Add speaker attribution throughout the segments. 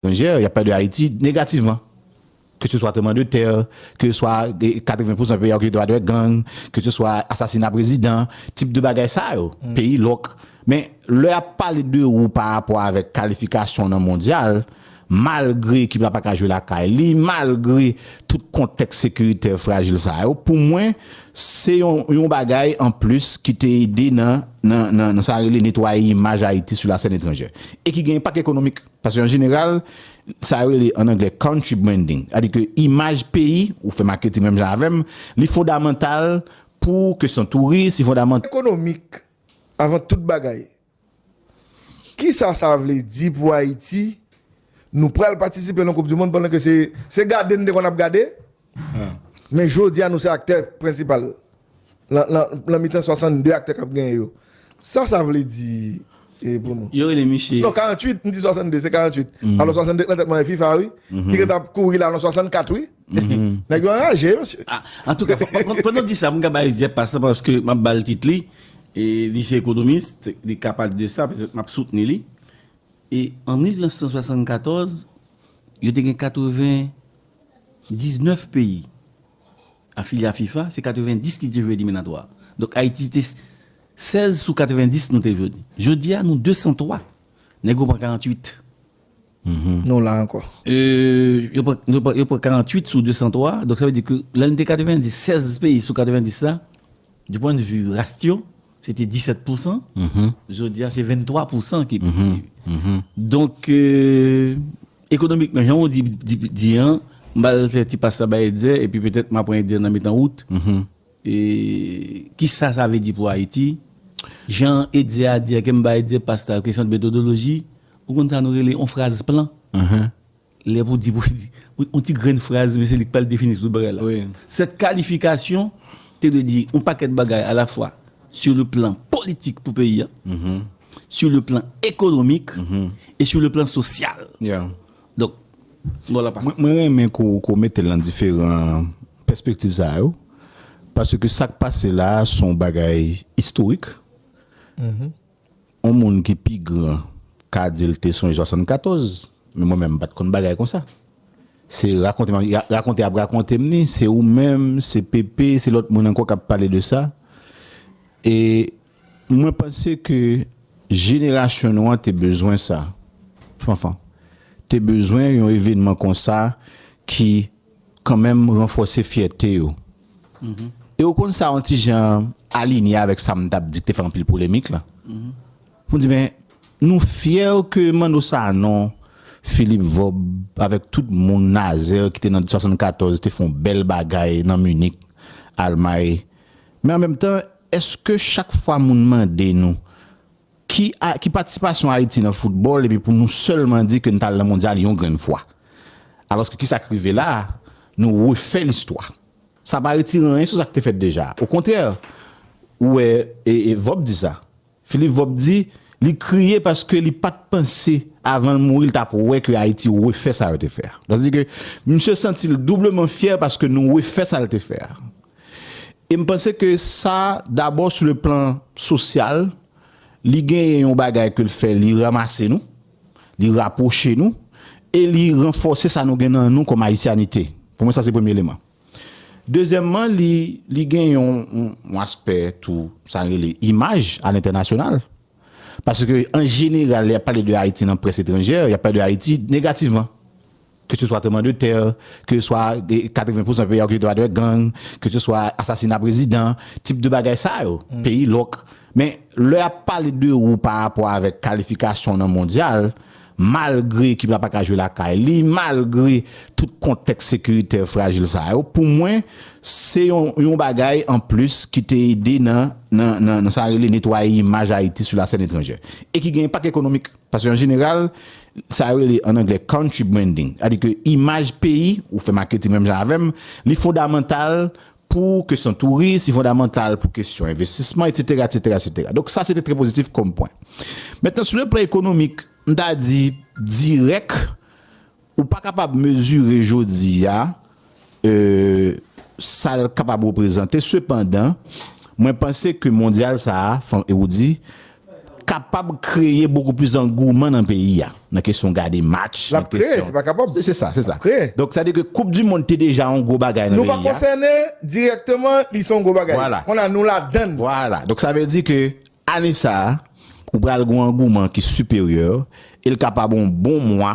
Speaker 1: Etranje, y ap pale de Ayiti negativman. Ke se swa tranbleman de tè, ke se swa 80 pousan peyi a okipe pa de gang, ke se swa asasina prezidan, tip de bagay sa yo, peyi lòk. Men, lè y ap pale de ou pa rapò avèk kalifikasyon w nan mondyal, malgre ekip la pa ka jwe lakay li, malgre tout kontèks sekiritè frajil sa yo, pou mwen, Se yon bagay an plis ki te ede nan sa rele netwaye imaj Ayiti sou lasèn etranjè. E ki gen enpak ekonomik. Paske an jeneral, sa yo rele an anglè country branding. Sa vle di ke imaj peyi, ou fè maketing menm jan avè m, li fondamantal pou kesyon touris, li fondamantal. Ekonomik
Speaker 2: avan tout bagay. Kisa sa vle di pou Haiti? Nou pral patisipe nan koup du mond pandan ke se gade nou te konn ap gade men jodia nou se aktè prensipal nan mitan 62 aktè kap genyen yo. Sa sa vle di pou nou? Yo rele misye. Non
Speaker 3: 48 m di 62
Speaker 2: se 48 alò 62 k nan tèt mwen FIFA wi ki ret ap kouri la nan 64 wi. Nèg yo anraje wi mesye. Antouka
Speaker 3: pandan w di sa m ka bay Jep pas la paske m ap ba l tit li e li se ekonomis li ka pale de sa petèt m ap soutni li e an 1974 yo te gen 80 19 peyi afilye a fifa se 90 ki te jwe eliminatwa donk Ayiti te 16 sou 90 nou te jodi jodi a nou 203 nèg yo pran 48.
Speaker 2: Nou la ankò.
Speaker 3: Yo pran 48 sou 203, donk sa vle di ke lè nou te 90, 16 peyi sou 90 la, di pwennvi ras yo, se te 17 pousan, jodi a se 23 pousan ki pi. Donk, ekonomikman, jan ou di an, m ba al fè ti pas la bay Etzer, epi petèt m a pran Etzer nan mitan wout. E kisa sa vle di pou Ayiti? Jan Etzer a di a ke m bay Etzer pas la, kesyon de metodoloji, ou konn sa nou rele yon fraz plan? Lè pou di, yon ti grenn fraz men se li k pral defini tout bagay la. Sèt kalifikasyon te vle di yon pakèt bagay a la fwa sou le plan politik pou peyi a, sou le plan ekonomik e sou le plan sosyal. Donk, bon la pas. Mwen renmen ke w
Speaker 1: mete l nan diferan pèspektiv sa yo, paske sa k pase la a se yon bagay istorik. Yon moun ki pi gran ka di l te sonje 74, men mwen menm m pa t konn bagay konsa. Se rakonte m ap rakonte, y ap rakonte m ni, se ou menm, se Pepe, se lòt moun ankò k ap pale de sa. E mwen panse ke jenerasyon nou an te bezwen sa, Fanfan. Te bezwen yon evenman konsa ki kanmenm ranfòse fyète yo. E ou konn sa yon ti jan alinye avèk sa m t ap di ki te fè anpil polemik la. Pou m di men, nou fyè ke Manno Sanon, Filip Vòb avèk tout moun, Nazè ki te nan 74 te fè yon bèl bagay nan Minik, Almay. Men an menm tan, èske chak fwa moun mande nou ki a, ki patisipasyon Ayiti nan foutbòl epi pou nou sèlman di ke n t al nan mondyal yon grenn fwa. Alòske kisa k rive la a, nou refè listwa. Sa pa retire anyen sou sa k te fèt deja. Okontrè, ou wè, e Vòb di sa. Philippe Vob di li kriye paske li pa t panse avan l mouri li t ap wè ke Ayiti refè sa yo te fè a. Sa vle di ke misye santi l doubleman fyè paske nou refè sa l te fè a. E m panse ke sa dabò sou le plan sosyal li genyen yon bagay ke l fè li ranmase nou, li rapwoche nou e li ranfòse sa nou gen nan nou kòm ayisyanite. Pou mwen sa se premye eleman. Dezyèmman, li gen yon aspè tou sa yo rele imaj a lentènasyonal. Paske an jeneral, lè y ap pale de Ayiti nan près etranjè, y ap pale de Ayiti negativman. Ke se swa tranbleman de tè, ke se swa 80 pousan peyi a okipe pa de gang, ke se swa asasina prezidan, tip de bagay sa yo, peyi lòk. Men, lè y ap pale de ou pa rapò avèk kalifikasyon nan mondyal, Malgre ekip la pa ka jwe lakay li, malgre tout kontèks sekiritè frajil sa yo, pou mwen, se yon bagay an plis ki te ede nan sa rele netwaye imaj Ayiti sou lasèn etranjè. E ki gen enpak ekonomik. Paske an jeneral, sa yo rele an anglè country branding. Sa vle di ke imaj peyi, ou fè maketing menm jan avè m, li fondamantal pou kesyon touris, li fondamantal pou kesyon envestisman, etsetera, etsetera, etsetera. Donk sa se te trè pozitif kòm pwen. Mentnan sou le plan ekonomik, m ta di dirèk ou pa kapab mezire jodi a sa l kapab reprezante. Sepandan, mwen panse ke mondyal sa a, e ou di, kapab kreye bokou plis angouman nan peyi a, nan kesyon gade match, nan kesyon.
Speaker 2: Se sa, se sa.
Speaker 1: Donk sa vle di ke
Speaker 2: koup di
Speaker 1: mond te deja yon gwo bagay nan peyi a. Nou pa konsène
Speaker 2: dirèkteman, li se yon gwo bagay. Vwala. Kounye a nou ladann. Vwala. Donk sa vle di
Speaker 1: ke ane sa a, ou pral gen yon angouman ki siperyè, e li kapab yon bon mwa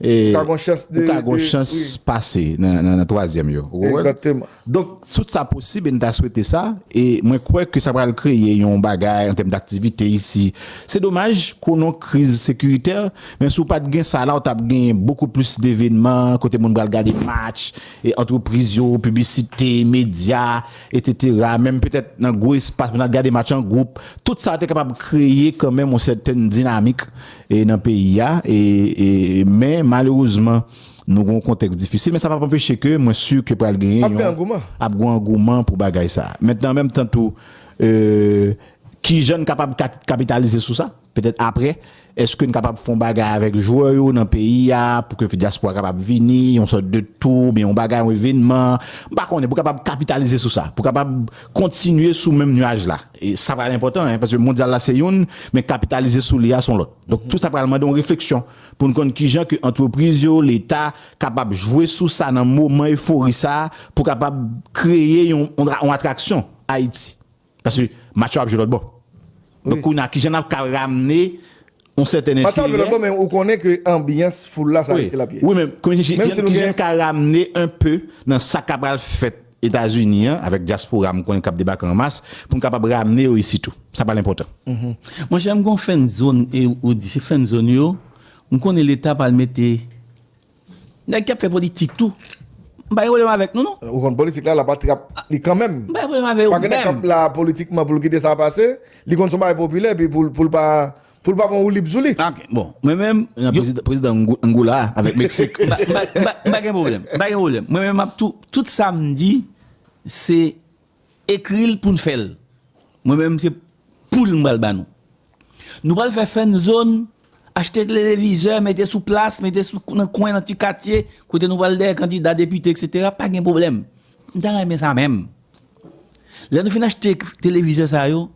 Speaker 1: Ou ka gon chans de. Ou ka gon
Speaker 2: chans pase
Speaker 1: nan twazyèm yo. Ou konprann? Egzakteman. Donk,
Speaker 2: tout sa
Speaker 1: posib e n ta swete sa. E mwen kwè ke sa pral kreye yon bagay an tèm daktivite isi. Se domaj, konon kriz sekiritè, men si w pa t gen sa la, w t ap gen bokou plis devenman, kote moun pral gade match, e antrepriz yo, piblisite, medya, etetera, menm petèt nan gwo espas, moun ap gade match an gwoup. Tout sa te kapab kreye kanmenm yon sèten dinamik. e nan peyi a e e men malerezman nou gon kontèks difisil men sa pap anpeche ke mwen sur ke pral genyen yon ap gon angouman pou bagay sa mentnan an menm tan tou e kijan n kapab kapitalize sou sa petèt aprè eske n kapab fon bagay avèk jwè yo nan peyi a pou ke diaspora kapab vini yon sòt de tou oubyen yon bagay yon evenman m pa konnen pou kapab kapitalize sou sa pou kapab kontinye sou menm nuaj la. Sa pral enpòtan, paske mondyal la se youn, men kapitalize sou li a son lòt. Donk tout sa pral mande yon refleksyon pou n konn kijan ke antrepriz yo, leta kapab jwe sou sa nan moman efori sa a pou kapab kreye yon atraksyon Ayiti. Paske match yo ap jwe lòtbò. Donk kounye a kijan n ap ka ramne yon sèten enterè. Match yo ap jwe lòtbò men ou konnen
Speaker 2: ke anbyans foul la se Ayiti l ap ye. Wi men kijan n
Speaker 1: ka ramne
Speaker 2: enpe
Speaker 1: nan sa k ap pral fèt Etazini an avèk dyaspora m konnen k ap debake an mas pou n kapab ramne yo isi tou. Sa pral enpòtan. Monchè m
Speaker 3: gon fen zone e ou di se fen zone yo m konnen leta pral mete nèg ki ap fè politik tou m pa gen pwoblèm avèk nou non. Ou konn politik la l ap atrap
Speaker 2: li kanmenm. M pa gen pwoblèm avè yo menm. Pagen nèg k
Speaker 3: ap la
Speaker 2: politikman pou l kite sa pase li konn son bagay popilè epi pou l pa Poul pa bon woulib zoulit. Ah ok bon mwen menm
Speaker 3: yo. Prezidan
Speaker 1: Angola a avèk Meksik. M pa gen
Speaker 3: pwoblèm, m pa gen pwoblèm. Mwen menm map tou, tout sa m di se ekri l pou n fè l. Mwen menm se poul m pral ba nou. Nou pral fè fènzon, achte televizè, mete sou plas, mete sou nan kwen, nan ti katye, kote nou pral dèyè kandida, depite eksetera, pa gen pwoblèm. M ta renmen sa menm. Lè nou fin achte televizè sa yo.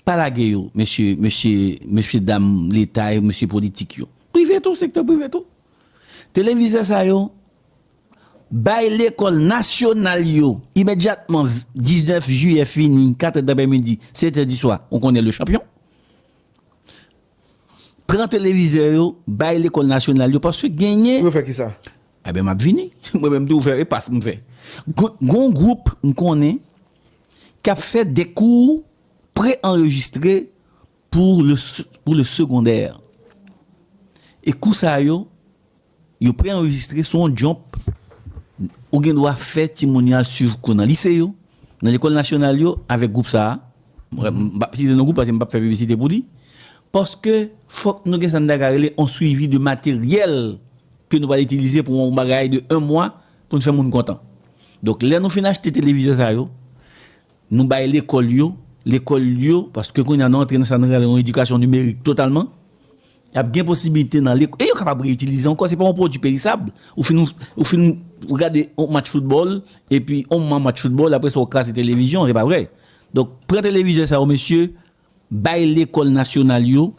Speaker 3: Pa lage yo mesye mesye mesye dam leta yo mesye politik yo prive tou sektè prive tou televizè sa yo bay lekòl nasyonal yo imedyatman 19 jiyè fini 4 tè daprè midi 7 tè di swa ou konnen le chanpyon pran televizè yo bay lekòl nasyonal yo paske genyen. Pou yo fè kisa?
Speaker 2: Enben map vini
Speaker 3: mwen menm tou fè e pas m fè gon gwoup m konnen. k ap fè de kou pre-anrejistre pou le segondè. E kou sa yo, yo pre-anrejistre sou yon djonp. Ou gen dwa fè timoun yo al suiv kou nan lise yo, nan lekòl nasyonal yo avèk gwoup sa a. M pa p site non gwoup paske m pa p fè piblisite pou li. Paske fòk nou gen sa n ta ka rele yon suivi de materyèl ke nou pral itilize pou yon bagay de 1 mwa Pou n fè moun kontan. Donk lè nou fin achte televizè sa yo, nou bay lekòl yo, lekòl yo, paske kounye a nou antre nan sa nou rele yon edikasyon nimerik totalman, y ap gen posiblite nan lekòl, e yo kapab reyitilize ankò, se pa yon pwodui perisab, ou fin, ou fin gade yon match foutbòl, epi yon moman match foutbòl, apre sa ou kraze televizyon, se pa vre? Donk pran televizè sa yo mesye, bay lekòl nasyonal yo.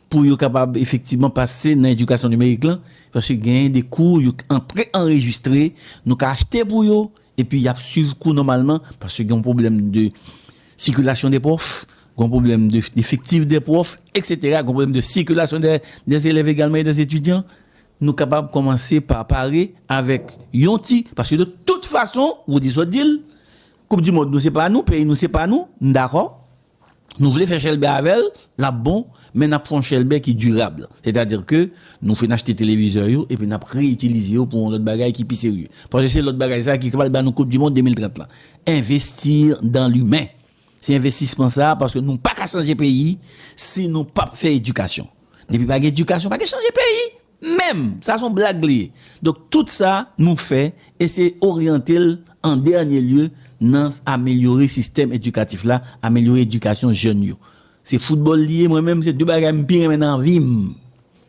Speaker 3: Pou yo kapab efektivman pase nan edikasyon nimerik lan, paske genyen de kou yo an pre-anrejistre, nou ka achte pou yo, epi y ap suiv kou nòmalman, paske gen yon pwoblèm de sikilasyon de pwòf, gen yon pwoblèm de efektif de pwòf, eksetera, gen yon pwoblèm de sikilasyon dè elèv egalman e dè etidyan, nou kapab kòmanse pa pare avèk yon ti, paske de tout fason, Roody sot di l, koup di mond nou se pa nou, peyi nou se pa nou, m dakò. Nou vle fè chèlbè avè l, l ap bon, men n ap fè yon chèlbè ki dirab. Sètadi ke nou fin achte televizè yo epi n ap re-itilize yo pou yon lòt bagay ki pi serye. Paske se lòt bagay sa a ki pral ba nou koupdimond 2030 lan. Investir dans l'humain. Se envestisman sa a paske nou pa ka chanje peyi si nou pap fè edikasyon. Depi pa gen edikasyon, pa gen chanje peyi! Menm! Sa son blag li ye. Donk tout sa nou fè eseye oryante l an dènye lye nan amelyore sistèm edikatif la, amelyore edikasyon jèn yo. Se foutbòl li ye, mwen menm se 2 bagay m pi renmen nan vi m.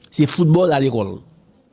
Speaker 3: Se foutbòl a lekòl.